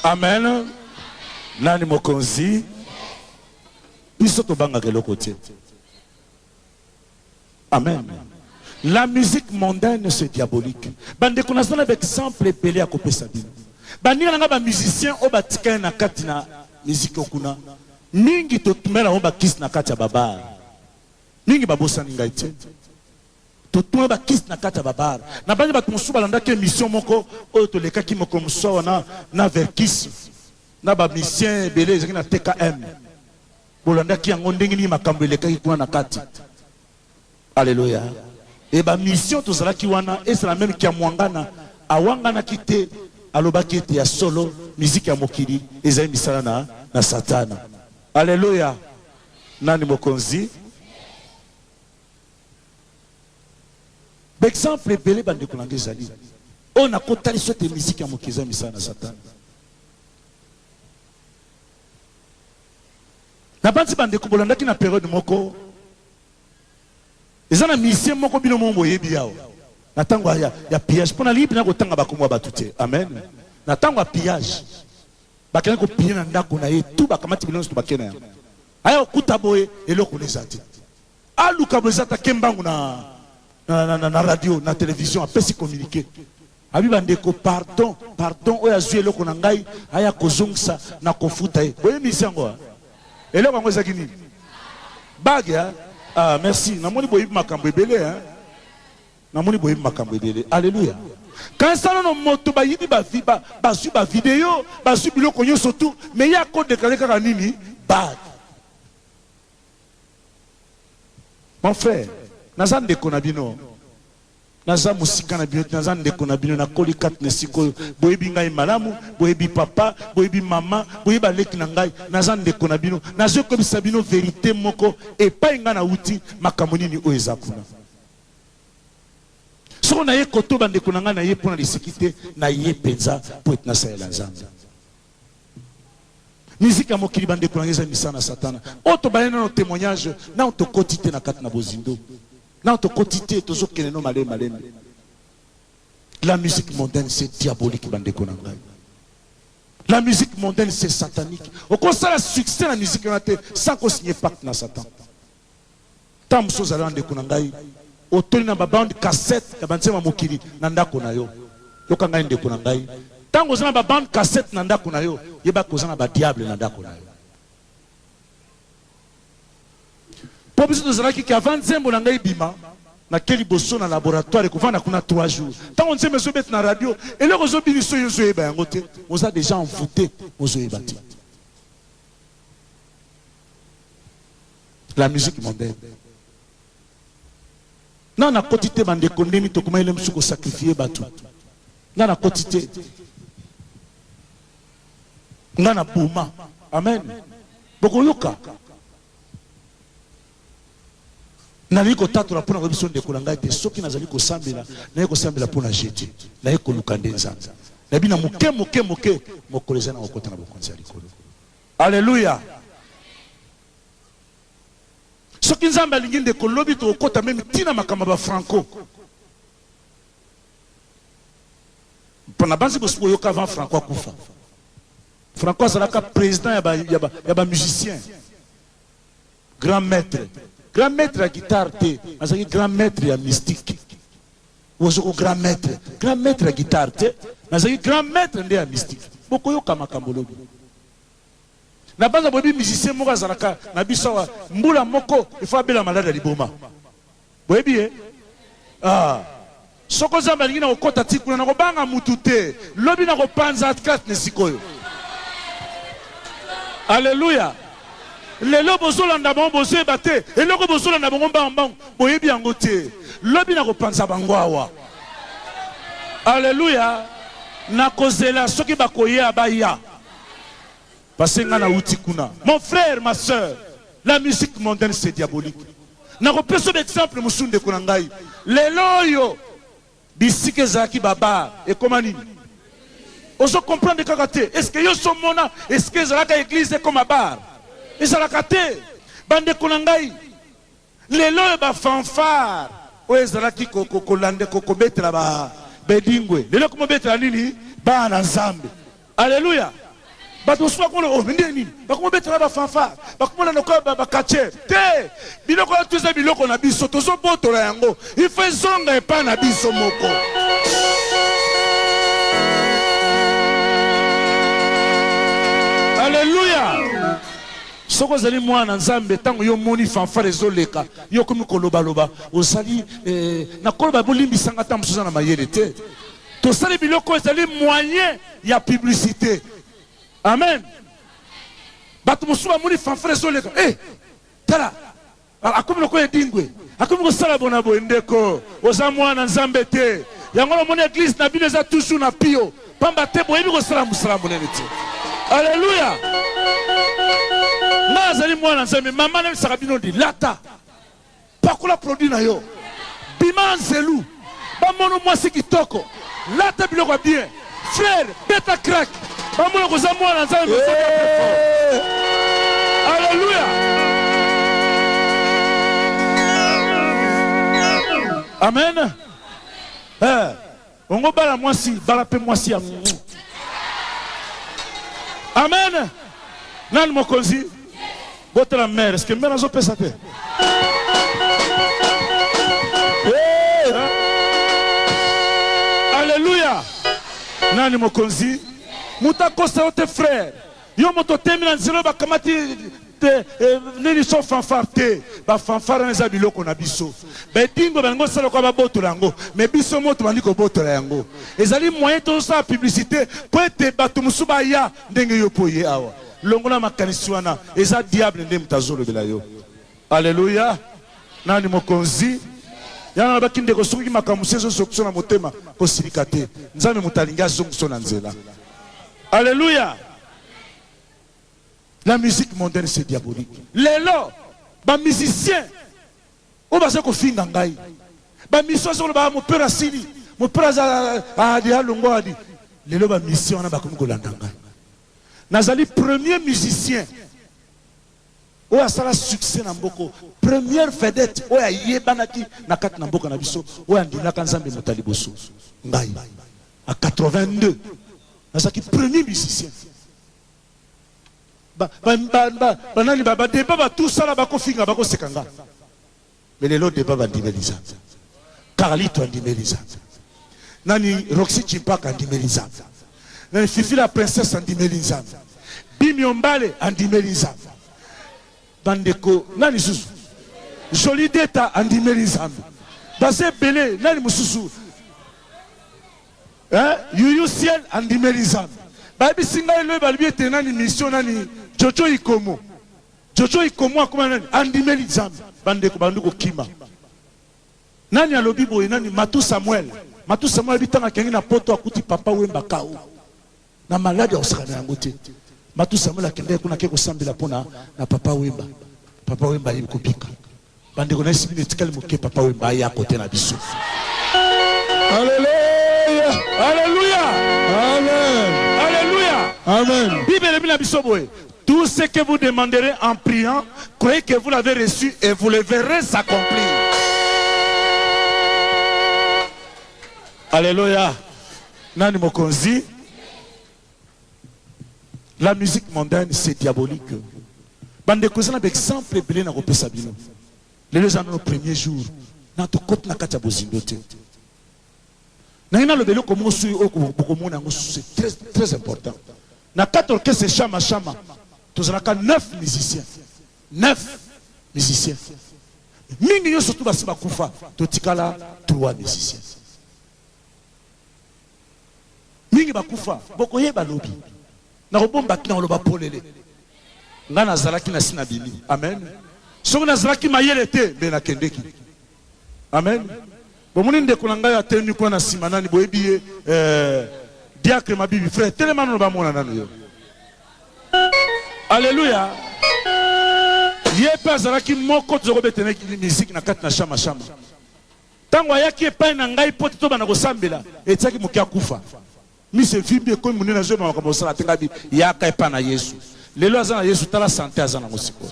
amen nani mokonzi biso tobangaka eloko te amen la musique mondaine se diabolique bandeko naza na baexemple ebele ya kopesa bino baninga na ngai bamusicien oyo batikali na kati na miziki okuna mingi totumela yango bakisi na kati ya babare Mingi babosani ngai te. Totuna ba kisi na kati ya ba bar. Nabangi bato mosusu balandaki emission moko oyo tolekaki mokolo mosusu awa na na Verkys na ba musiciens ebele ezalaki na TKM. Bolandaki yango ndenge nini makambo elekaki kuna na kati. Alleluia. Et ba mission tozalaki wana ezala meme Kiamuangana awanganaki te alobaki ete ya solo musique ya mokili ezali misala na na satana. Alleluia nani mokonzi. Ba exemple ebele bandeko na ngai ezali oyo nakotalisa ete miziki ya moke eza misala na satana. nabanzi bandeko bolandaki na periode moko eza na musicien moko bino moko boyebi yawa na ntango ya, ya pillage mpo nalingi mpena kotanga bakombo ya bato te amen na ntango ya pillage Bakendaki ko piller na ndaku na ye tout ba kamati biloko nionso tout ba ke na yango. Aya ko kuta boye eloko na eza te. Aluka boye eza te ake mbangu na na na radio na television apesi communique. Alobi ba ndeko pardon pardon oyo azui eloko na ngai aya ko zongisa na ko futa ye. Bo yebisi yango hein? Eloko yango ezalaki nini? Bague hein? Ah merci na moni bo yebi makambu ebele hein. Namoni boyebi makambo ebele. Alleluia. Kanisa nano moto bayibi ba vi, ba, bazui ba video, bazui biloko nyoso tout, mais ye ako declarer kaka nini? Bad. Mon frère, naza ndeko na bino, naza mosika na bino te, naza ndeko na bino, nakoli kati na esika oyo, boyebi ngai malamu, boyebi papa, boyebi mama, boyebi baleki na ngai, naza ndeko na bino, nazoki koyebisa bino verite moko epai ngai nawuti, makambo nini oyo eza kuna. Soko na ye koto ba ndeko na ngai na ye pona liseki te na ye penza po ete na salela Nzambe. Musique ya mokili ba ndeko na ngai eza misala na satana. Oyo to bale nano temoignage nano to koti te na kati na bozindo. Nano to koti te tozo kende no malembe malembe. La musique mondaine c'est diabolique ba ndeko na ngai. La musique mondaine c'est satanique. Oko sala succès na musique wana te sans ko signer pacte na satan. Ntango mosusu ozali na ndeko na ngai, otondi na ba-bande cassette ya banzembo ya mokili na ndako na yo. Yoka ngai, ndeko na ngai, ntango ozali na ba-bande cassette na ndako na yo, yeba ke oza na ba-diable na ndako na yo. Mpo biso tozalaki ke avant nzembo na ngai ebima, nake liboso na laboratoire, ekovanda kuna trois jours. Ntango nzembo ezobeta na radio, eloko ezobinisa oyo ozoyeba yango te, oza dejà envoute, ozoyeba te. la musique mondaine nga nakoti te bandeko ndeni tokomaki le mosusu kosakrifie bato nga nakoti te nga na boma amen bokoyoka nalingi kotatola mpo na koyebi so ndeko na ngai te soki nazali kosambela naye kosambela mpo na je te naye koluka nde nzambe nayebi na moke moke moke mokolo eza na kokota na bokonzi ya likolo Alleluia soki nzambe alingi ndeko lobi tokokota meme tina makambo ya ba franco mpo nabanzi bosi boyoka avant franco akufa franco azalaka président ya ba, ya ba, ya ba musicien Grand maitre grand maitre ya guitare te azalaki grand maitre ya mystique wazoko grand maitre grand maitre ya guitare te nazalaki grand maitre nde ya mystique bokoyoka makambo lobi na banza boyebi musicien moko azalaka na biso awa mbula moko efo abela malade ya liboma Boyebi ye? Ah. Soko Nzambe alingi nakokota ti kuna, nakobanga mutu te. Lobi nakopanza Kathleen sikoyo. Alleluia. Lelo bozolanda bango, bozoyeba te eloko bozolanda bango mbangu mbangu, boyebi yango te. Lobi nakopanza bango awa. Alleluia. Nakozela soki bakoya, baya. Parce nga na wuti kuna. Mon frère, ma soeur, la musique mondaine c'est diabolique. Nako pesa ba exemple mosusu ndeko na ngai. Lelo oyo bisika ezalaki ba bar ekoma nini? Ozo comprendre kaka te. Est-ce que yo so mona esika ezalaka eglise ekoma bar? Ezalaka te. Ba ndeko na ngai. Lelo oyo ba fanfare oyo ezalaki kolande kobetela ba bedingwe lelo ekomi kobetela nini bana na nzambe aleluya bato mosusu bakomona oyo oh, nde nini bakomi obetela bafanfare bakomona lokola bakacher te biloko ya to eza biloko na biso tozobotola yango ifo ezonga epai na biso moko Soki ozali mwana na nzambe tango yo omoni fanfare ezo leka yo okomi koloba loba ozali eh, na koloba bolimbisa nga tango mosusu na mayele te tosali biloko ezali moyen ya publicite amen bato mosusu bamoni fanfare ezo leka eh, tala Akomi lokola edingwe, akomi kosala bona boye. Ndeko, oza mwana Nzambe te. Yango na moni eglise na bino eza toujours na pio, pamba te boyebi kosala mosala monene te. Aleluya! Nga azali mwana Nzambe, mama nalisaka bino lilata, pakola produit na yo, bima anzelu. Bamono mwasi kitoko lata biloko ya bien frère beta crack bamona koza mwana nzambe masoki ya très fort Eh, alleluia amen Eh, ongo bala mwasi bala mpe mwasi ya amen nani mokonzi Botela mère, est-ce que mère azo pesa te? Alléluia. Nani mokonzi? Muta kosa yo te frère. Yo moto temi na nzela bakamati te eh, nini so fanfare te bafanfare wana eza biloko na biso bedingo balingi osala kwa babotola yango me biso moto bandi kobotola yango ezali moyen tozosala publicité mpo ete bato mosusu baya ndenge yo pe oye awa. Longola makanisi wana, eza diable nde moto azo lobela yo. Alleluia! Nani mokonzi? Yango nalobaki ndeko, soki makambo mosusu ezo zokisa yo na motema, ko silika te. Nzambe moto alingi azongisa yo na nzela. Alleluia! La musique mondaine c'est diabolique. Lelo, ba musiciens, Oyo baza kofinga ngai ba mission azo loba mopero asili mopero aza adi alongwa adi lelo ba mission wana bakomi kolanda ngai nazali premier musicien oyo asala succès na mboko première vedette oyo ayebanaki na kati na mboka na biso oyo andimaka nzambe moto ya liboso ngai a 82 nazalaki premier musicien Ba ba ba ba ba nani ba ba debat ba tout ça là ba kofinga ba koseka nga. Mais lelo debat ba ndimeli nzambe. Carlito andimeli nzambe. Nani Roxy Chimpaka andimeli nzambe. Nani Fifi la princesse andimeli nzambe. Bimio Mbale andimeli nzambe. Bandeko nani susu? Jolie Deta andimeli nzambe. Baza ebele nani mususu? Eh youyou ciel andimeli nzambe bayebisi ngai lobi balobi ete nani mission nani jojo ikomo jojo ikomo akoma nani andimeli nzambe bandeko bandi kokima nani alobi boye nani matou samuel matou samuel ayebi ntango akengi na poto akuti papa wemba kao Na malade akosaka na yango te. Matou Samuel akendaki kuna ake kosambela mpo na na Papa Wemba. Papa Wemba ayebi kobika. Bandeko na ye sibi etikali moke Papa Wemba aya kote na biso. Aleluya! Aleluya! Amen! Aleluya! Amen! Bible elobi na biso boye, Tout ce que vous demanderez en priant, croyez que vous l'avez reçu et vous le verrez s'accomplir. Aleluya! Nani mokonzi? La musique mondaine c'est diabolique. Bandeko eza na baexemple ebele na kopesa bino. Lelo eza nano premier jour na tokoti na kati ya bozindo te. Nangi naloba eloko moko soki oyo bokomona yango c'est très, très important. Na kati orchestre Shama Shama tozalaka neuf musiciens. Neuf musiciens. Mingi nyonso tu basi bakufa totikala trois musiciens. Mingi bakufa, bokoyeba lobi. Nakobomba kina koloba polele. Nga nazalaki nasi nabimi. Amen. Soki nazalaki mayele te, nde nakendeki. Amen. Bomoni ndeko na ngai atelemi kuna na sima, nani boyebi ye? Eh, diacre Mabibi. Frère, telema nano bamona nano yo. Alléluia. Ye pe azalaki moko tozokobetene musique na kati na shama shama. Ntango ayaki epai na ngai mpo ete tobanda kosambela, etiaki moke akufa. Miso evimbi, ekomi monene, nazoyeba makambo ya kosala te. Ngai nalobi, Yaka epai na Yesu. Lelo aza na Yesu. Tala sante aza na yango sikoyo.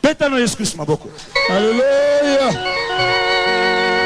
Beta na Yesu Klisto maboko. Aleluya!